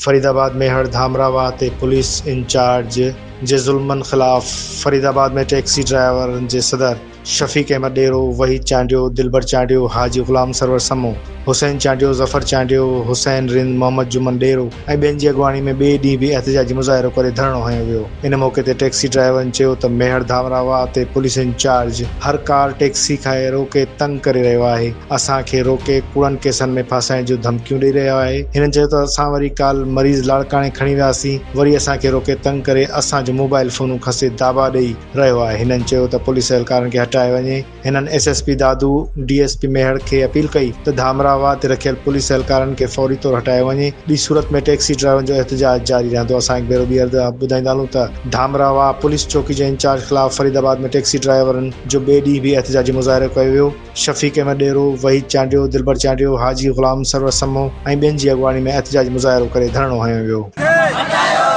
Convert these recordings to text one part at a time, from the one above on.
فريد آباد ۾ هڙ ڌامرا واهه تي پوليس انچارج جي ظلمن خلاف فريد آباد ۾ ٽيڪسي ڊرائيورن جي صدر شفيق احمد ڏيرو، وحيد چانڊيو، دلبر چانڊيو، حاجي غلام سرور سمون، حسين چانڊيو، ظفر چانڊيو، حسين رند، محمد جمن ڏيرو ۽ ٻين جي اڳواڻي ۾ ٻئي ڏينهن به احتجاجي مظاهرو ڪري ڌرڻو هنيو ويو. ان موقعي تي ٽيڪسي ڊرائيورن چيو ته ميهڙ ڌامراهه واهه تي پوليس انچارج هر ڪار ٽيڪسي کي روڪي تنگ ڪري رهيو آهي، اسان کي روڪي ڪوڙن ڪيسن ۾ ڦاسائڻ جون ڌمڪيون ڏئي رهيو آهي. هنن چيو ته اسان وري ڪالهه مريض لاڙڪاڻي کڻي وياسين وري اسان کي روڪي تنگ ڪري اسان جون موبائيل فونون کسي داٻا ڏئي رهيو آهي. هنن چيو ته پوليس اهلڪارن کي هٽايو وڃي. هنن S S P Dadu, D S P Mehar کي اپيل ڪئي ته ڌامراهه واهه تي رکيل پوليس اهلڪارن کي فوري طور هٽايو وڃي، ٻي صورت ۾ ٽيڪسي ڊرائيورن جو احتجاج جاري رهندو، اسان هڪ ڀيرو ٻيهر ٻڌائيندا هلون ته ڌامراهه واهه پوليس چوڪي جي انچارج خلاف فريد آباد ۾ ٽيڪسي ڊرائيورن جو ٻئي ڏينهن به احتجاجي مظاهرو ڪيو ويو، شفيق احمد ڏيرو، وحيد چانڊيو، دلبر چانڊيو، حاجي غلام، سرور سمون ۽ ٻين جي اڳواڻي ۾ احتجاجي مظاهرو ڪري ڌرڻو هنيو ويو. ڪي هٽايو.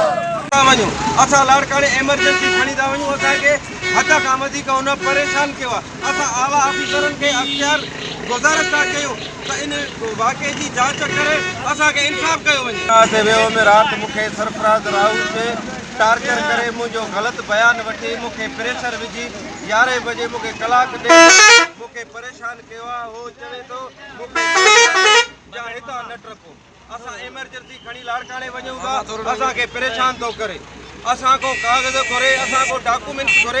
ڪا وڃون. اسان لاڙڪاڻي ايمرجنسي کڻي ٿا وڃون، اسان کي حد کان وڌيڪ هن پريشان ڪيو آهي، اسان اعليٰ آفيسرن کي اختيار گذارش ٿا ڪيون ته ان واقعي جي جاچ ڪري اسان کي انصاف ڪيو وڃي. ڇا ٿي ويو ۾ رات مون کي سرفراز راهو جي ٽارچر ڪري منهنجو غلط بيان وٺي مون کي پريشر وجهي يارهين بجي مون کي ڪلاڪ ڏيڍ مون کي پريشان ڪيو آهي هو چوي ٿو مون کي گولي هڻي جا هتان نه ٽپو. اسان ايمرجنسي کڻي لاڙڪاڻي وڃون ٿا اسان کي پريشان ٿو ڪري اسان کان ڪاغذ گهري اسان کان ڊاڪومينٽس گهري